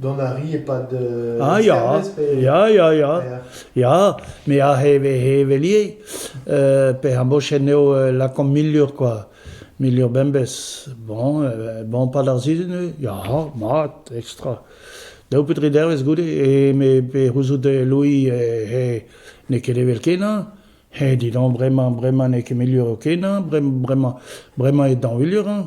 Dont a ri e-pad uh Ah ya, ya, ya, ya, ya, me a heve hevelier, uh pe ar mochen eo uh lakaomp milur kwa, milur bembez, bon, uh bon pad ar sizhun eo, ya, mat, ekstra. Daou petri dervez goude, e me pe c'houzout e Louis e, he n'eo ket evel kenañ, he dit bremañ, bremañ n'eo ket milur o kenañ, bremañ, bremañ e dañvulur-eñ.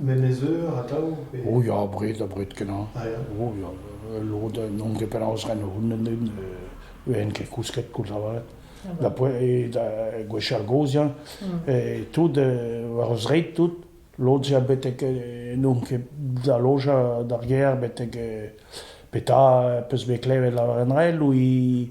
Menez Eur atav pe... O ya, abred, abred-kenañ. O ya, lod a n'onn ket penaos ren hounnend int, ven ket kousket koulz avat. Da poe, da gwechall gozh, ya, tout, war o zreid tout, lod ya betek n'onn ket da lojañ d'ar gêr betek petra peus bet klevet lavarenrel ou i...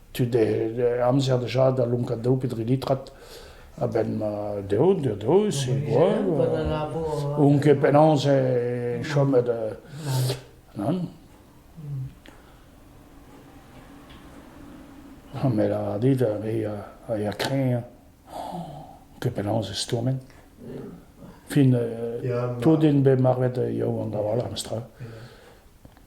tud amzer déjà da lonkañ daou pe dri litrad a-benn ma deo, deo, deo, c'est quoi On ket penaos e chomet nan. Ha me lâr dit, a re a ya kreñv, ket penaos e stourmen. Fin, tout din bet marvet yaou an da wall, am stra.